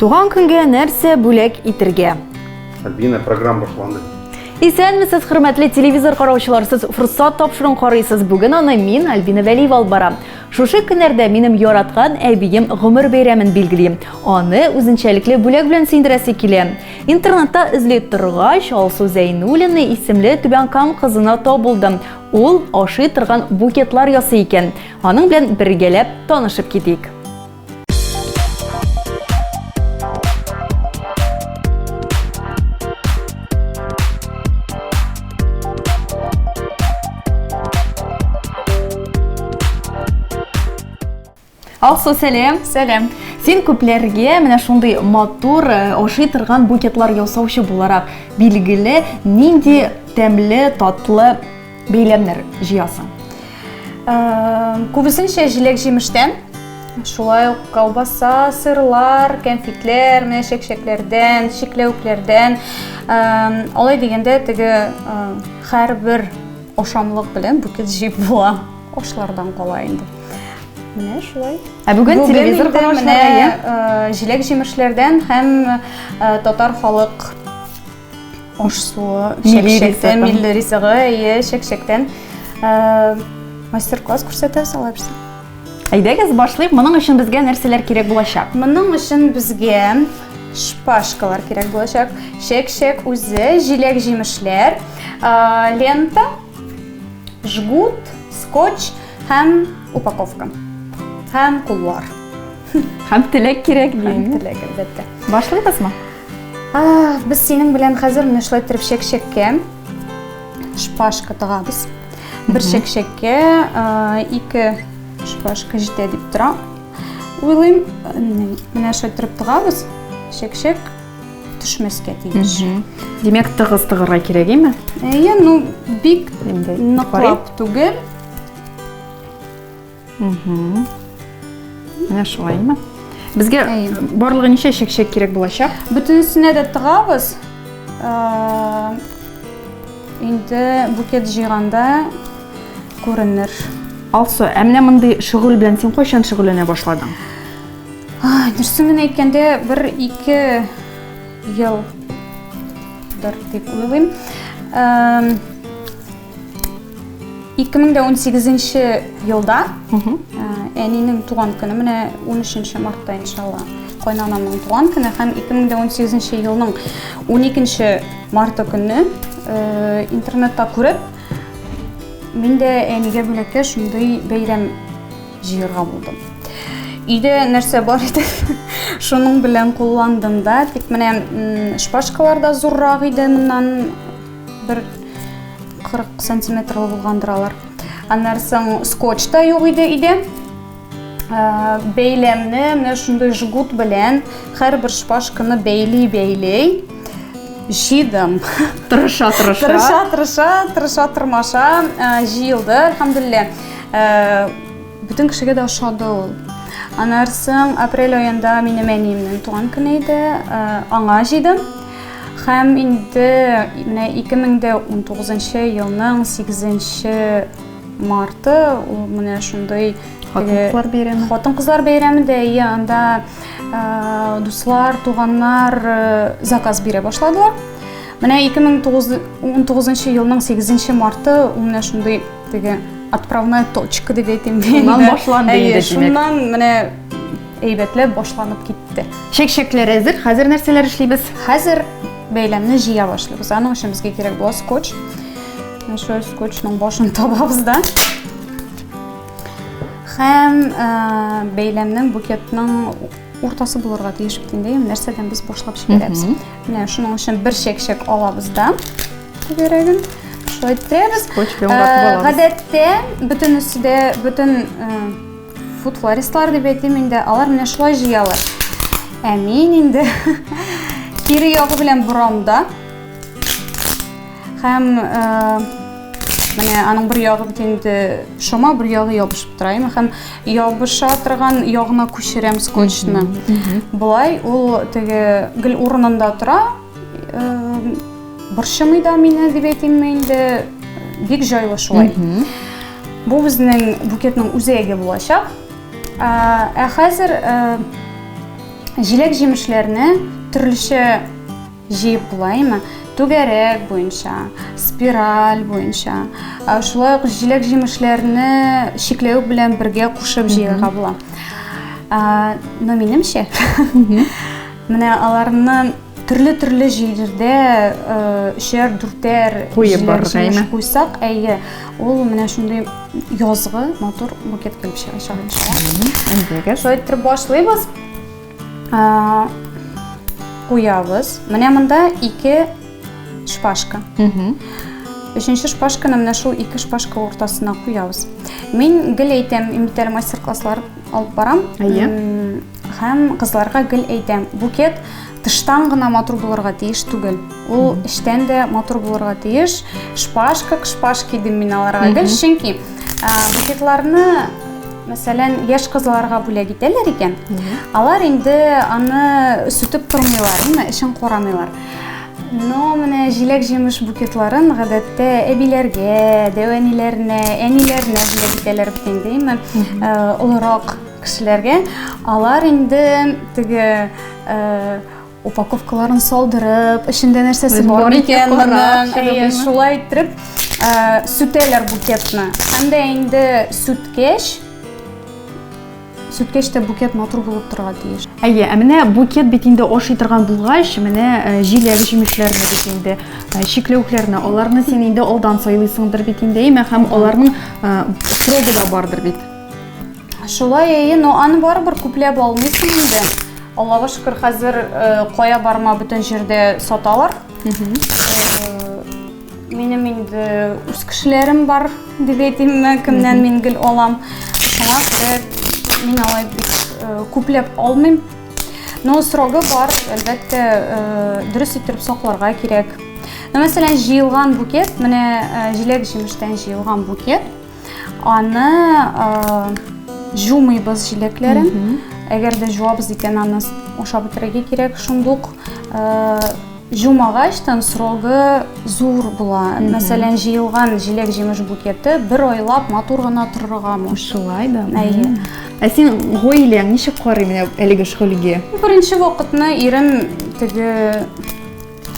Туган көнгә нәрсә бүләк итергә? Альбина, программа башланды. Исәнмесез, хөрмәтле телевизор караучылар, сез форсат тапшыруын карыйсыз. Бүген аны мин, Альбина Вәлиева алып барам. Шушы көннәрдә минем яраткан әбием гомер бәйрәмен билгелим. Аны үзенчәлекле бүләк белән сөендерәсе килә. Интернетта эзли торгач, Алсу Зәйнуллина исемле Түбән Кам кызына табылдым. Ул ашый торган букетлар ясый икән. Аның белән бергәләп танышып китик. Алсу, сәлем. Сәлем. Син күпләргә менә шундый матур э, ашый торган букетлар ясаучы буларак билгеле, нинди тәмле, татлы Бәйләмнәр җыясың. Күбесенчә җиләк-җимештән, шулай ук колбаса, сырлар, кәнфитләр, менә чәкчәкләрдән, чикләвекләрдән. Алай дигәндә теге һәрбер ашамлык белән букет җыеп була. Ашлардан кала инде. Менә шулай. Ә бүген телевизор караучыларга җиләк-җимешләрдән һәм татар халык Аш суы, чәкчәктән, милли ризыгы, әйе, чәкчәктән мастер-класс күрсәтә салабыз. Әйдәгез, башлыйк. Моның өчен безгә нәрсәләр кирәк булачак? Моның өчен безгә шпажкалар кирәк булачак. Чәк-чәк үзе, җиләк-җимешләр, лента, жгут, скотч һәм упаковка. Һәм куллар. Һәм теләк кирәк дим. Теләк, әлбәттә. Башлыйбызмы? Без синең белән хәзер менә шулай торып чәкчәккә шпажка тыгабыз. Бер чәкчәккә ике шпажка җитә дип тора. Уйлыйм, менә шулай торып тыгабыз. Чәкчәк төшмәскә тиеш. Димәк, тыгыз тыгырга кирәк, әйме? Әйе, ну бик ныклап түгел. Менә шулай. Безгә барлыгы ничә чәкчәк кирәк булачак? Бөтенесенә дә тыгабыз. Инде букет җыйганда күренер. Алсу, ә менә мондый шөгыль белән син кайчан шөгыльләнә башладың? Дөресен генә әйткәндә, бер ике елдыр дип уйлыйм. 2018 нче елда әнинең туган көне менә 13 нче мартта иншалла кайнанамның туган көне һәм 2018 нче елның 12 нче марты көнне интернетта күреп мин дә әнигә бүләккә шундый бәйрәм җыярга булдым өйдә нәрсә бар иде шуның белән кулландым да тик менә шпажкалар да зуррак иде моннан Бер 40 сантиметр булгандыр алар. Аннан соң скотч та юк иде иде. Ә, бәйләмне менә шундый жгут белән һәрбер шпажканы бәйли-бәйлей җыйдым. Тырыша, тырыша. Тырыша, тырыша, тырыша, тырмаша ә, җыелды, әлхәмдулилла. Ә, бөтен кешегә дә ошады ул. Аннан соң апрель аенда минем әниемнең туган көне иде. Ә, аңа җыйдым. Һәм инде менә 2019 елның 8 марты ул менә шундый хатын-кызлар бәйрәме. Хатын-кызлар бәйрәме дә, иә, анда дуслар, туганнар заказ бирә башладылар. Менә 2019 елның 8 марты ул менә шундый теге отправная точка дип әйтим. Шуннан башланды инде, димәк. Шуннан менә Әйбәтләп башланып китте. Чәк-чәкләр әзер. Хәзер нәрсәләр эшлибез? Хәзер бәйләмне җыя башлыйбыз. Аның өчен безгә кирәк була скотч. Шул скотчның башын табабыз да. Һәм э, бәйләмнең букетның уртасы булырга тиеш бит инде. Нәрсәдән без башлап җибәрәбез? Менә шуның өчен бер чәк-чәк алабыз да. Түгәрәген шулай тирәбез. Скотч белән уратып э, алабыз. Гадәттә бөтенесе дә бөтен э, Фуд флористлар дип әйтим инде, алар менә шулай җыялар. Ә мин инде кире ягы белән борам да. Һәм э, менә аның бер ягы бит инде шома, бер ягы ябышып тора. Яме һәм ябыша торган ягына күчерәм скотчны. Болай ул теге гел урынында тора, Борчымый да мине дип әйтимме инде, бик җайлы шулай. Бу безнең букетның үзәге булачак. Ә хәзер җиләк-җимешләрне төрлечә җыеп булаймы? Түгәрәк буенча, спираль буенча. Шулай ук җиләк-җимешләрне чикләвек белән бергә кушып җыярга була. Но минемчә, Менә аларны төрле-төрле җирдә өчәр, дүртәр куеп барырга куйсак, әйе, ул менә шундый язгы матур букет килеп чыгачак иншалла. Шулай итеп башлыйбыз. Куябыз. Менә монда ике шпажка. Өченче шпажканы менә шул ике шпажка уртасына куябыз. Мин гел әйтәм, мин бит әле мастер-класслар алып барам. Әйе. Һәм кызларга гел әйтәм, букет тыштан гына матур булырга тиеш түгел. Ул эчтән дә матур булырга тиеш. Шпаж как шпаж кидем мин аларга гел, чөнки букетларны мәсәлән, яшь кызларга бүләк итәләр икән, алар инде аны сүтеп тормыйлар, әмма эчен карамыйлар. Но менә җиләк-җимеш букетларын гадәттә әбиләргә, дәвәниләренә, әниләренә бүләк итәләр бит инде, әмма олырак Кешеләргә алар инде теге упаковкаларын салдырып, эчендә нәрсәсе бар микән моның, шулай иттереп сүтәләр букетны. Һәм дә инде сүткәч, сүткәч тә букет матур булып торырга тиеш. Әйе, ә менә букет бит инде ашый торган булгач, менә э, җиләк җимешләрне бит инде, э, чикләвекләрне, аларны син инде алдан сайлыйсыңдыр бит инде, әйме, һәм аларның э, срогы да бардыр бит. Шулай әйе, но аны барыбер күпләп алмыйсың инде. Аллага шөкер, хәзер э, кая барма бөтен җирдә саталар. Э, Минем инде үз кешеләрем бар дип әйтимме, кемнән мин гел алам. Шуңа күрә мин алай бик э, күпләп алмыйм. Но срогы бар, әлбәттә, э, дөрес иттереп сакларга кирәк. Ну, мәсәлән, җыелган букет, менә э, җиләк-җимештән җыелган букет. Аны җумыйбыз җиләкләрен. Әгәр дә җуабыз икән, аны ашап бетерергә кирәк. Шундук җумагач, тан срогы зур була. Мәсәлән, җыелган җиләк-җимеш букеты бер айлап матур гына торырга мөмкин. Шулай да. Әйе. Ә син гаиләң ничек карый менә әлеге шөгыльгә? Беренче вакытны ирем теге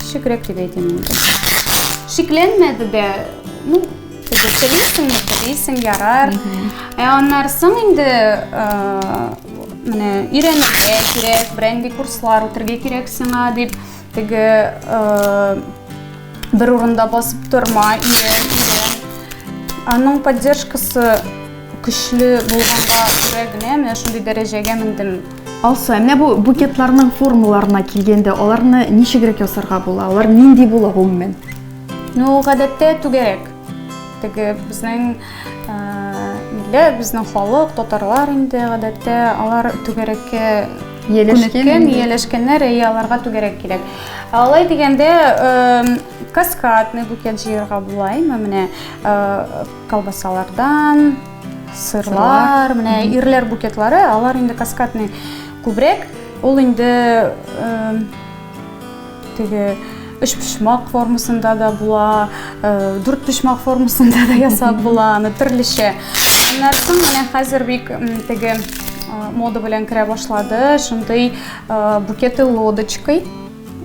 Шикрәк дип әйтәм инде. Шикләнмәде дә. Ну, телисең, телисең, ярар. Ә аннары соң инде менә өйрәнергә кирәк, бренди курслар үтергә кирәк сиңа дип теге бер урында басып торма, өйрән, өйрән. Аның поддержкасы көчле булганга күрә генә менә шундый дәрәҗәгә мендем. Алсу, ә менә бу букетларның формаларына килгәндә, аларны ничегрәк ясарга була? Алар нинди була гомумән? Ну, гадәттә түгәрәк. Теге безнең милле, безнең халык, татарлар инде гадәттә алар түгәрәккә Ияләшкән, ияләшкәннәр, әйе, аларга түгәрәк кирәк. Алай дигәндә, каскадный букет җыярга була, әйме, менә колбасалардан, Сырлар, менә ирләр букетлары, алар инде каскадный күбрәк. Ул инде теге үш почмак формасында да була, дүрт почмак формасында да ясап була, аны төрлечә. Аннан соң менә хәзер бик теге мода белән керә башлады, шундый букеты лодочкой.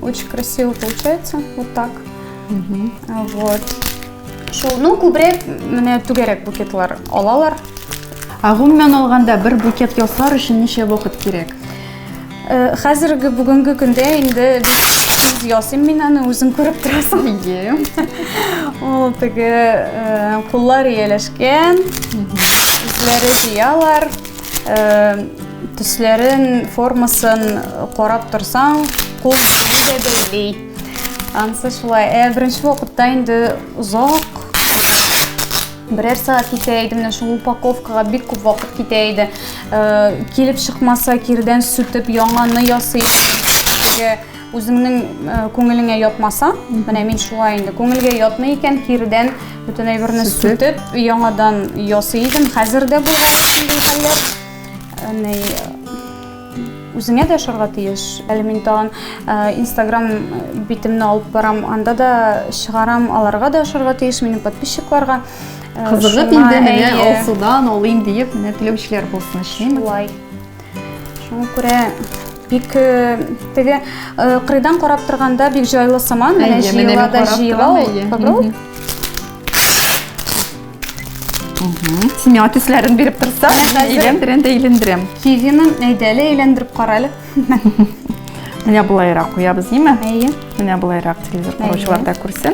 Очень красиво получается, вот так. Угу. Вот. Шул, ну, күбрәк менә түгәрәк букетлар алалар. Ә гомумән алганда бер букет ясар өчен ничә вакыт кирәк? Э, хәзерге бүгенге көндә инде тиз ясыйм мин аны, үзең күреп торасың. Ие. Ул теге э, куллар ияләшкән, үзләре җыялар. Төсләрен, формасын карап торсаң, кул дә бәйли. Ансы шулай. Ә беренче вакытта инде озак берәр сәгать китә иде менә шул упаковкага бик күп вакыт китә иде килеп чыкмаса кирдән сүтеп яңаны ясый Үзеңнең күңелеңә ятмаса, менә мин шулай инде. Күңелгә ятмый икән, кирдән бүтән әйберне сүтеп, яңадан ясый идем. Хәзер дә булган шундый хәлләр. Әни үзеңә дә ашарга тиеш. Әле мин тагын Instagram битемне алып барам, анда да чыгарам, аларга да ашарга тиеш, минем подписчикларга. Кызыгып инде менә алсудан алыйм диеп, менә теләүчеләр булсын, эшлим. Шулай. Шуңа күрә бик теге кырыйдан карап торганда бик җайлы сыман, менә җыела да җыела ул. Попробуй. Семья төсләрен биреп торса, әйләндерәм дә әйләндерәм. Кивине әйдәле әйләндереп кара әле. Менә болайрак куябыз, димме? Әйе. Менә болайрак телевизор караучылар да күрсен.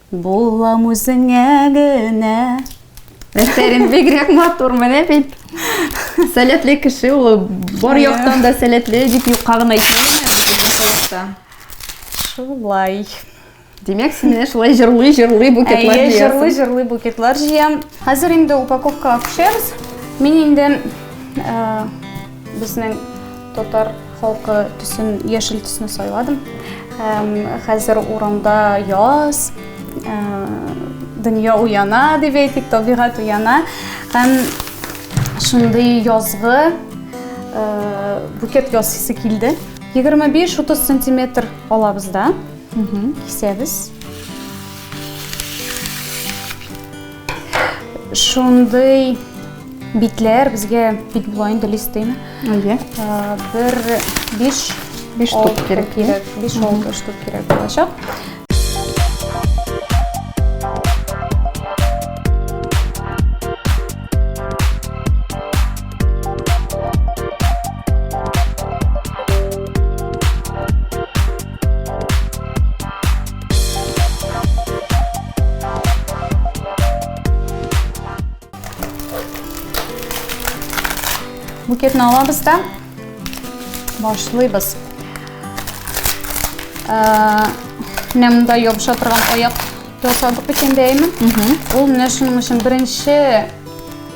Булам үзеңә генә. Әсәрем бигрәк матур, менә бит. Сәләтле кеше ул, бар яктан да сәләтле дип юкка гына әйтмәгән. Шулай. Димәк, син менә шулай җырлый, җырлый букетлар җыясың. Әйе, җырлый, җырлый букетлар җыям. Хәзер инде упаковка акчабыз. Мин инде э, Безнең татар халкы төсен яшел төсне сайладым. Һәм хәзер урамда яз, э, дөнья уяна дип әйтик, табигать уяна. Һәм шундый язгы э, букет ясыйсы килде. 25-30 сантиметр алабыз да, кисәбез. Шундый битләр безгә бит була инде листыйны. Әйе. Бер биш биш штук кирәк. Биш алты штук кирәк булачак. букетін аламыз да башлыйбыз ә, менә мында ябыша торган аяк жасадык бит инде әйме ул менә шуның өчен беренче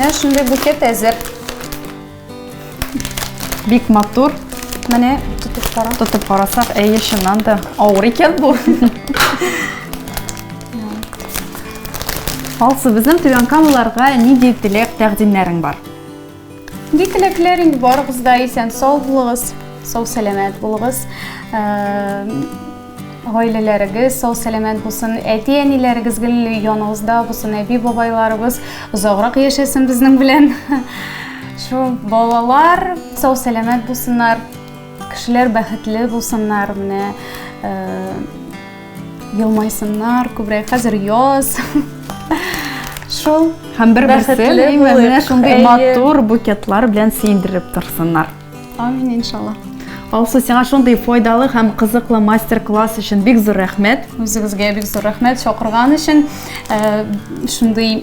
Менә шундый букет әзер. Бик матур. Менә тотып кара. Тотып карасак, әйе, чыннан да авыр икән бу. Алсу, безнең түбән камаларга нинди теләк тәкъдимнәрең бар? Ни теләкләр инде барыгыз да исән сау булыгыз, сау сәламәт булыгыз. Гаиләләрегез сау сәламәт булсын, әти-әниләрегез гел яныңызда булсын, әби-бабайларыбыз озаграк яшәсен безнең белән. Шул балалар сау сәламәт булсыннар, кешеләр бәхетле булсыннар менә. Елмайсыннар, күбрәк хәзер яз. Шул. Һәм бер берсе менә шундый матур букетлар белән сөендереп торсыннар. Амин иншалла. Алсу, сиңа шундый файдалы һәм кызыклы мастер-класс өчен бик зур рәхмәт. Үзегезгә бик зур рәхмәт чакырган өчен. Э, шундый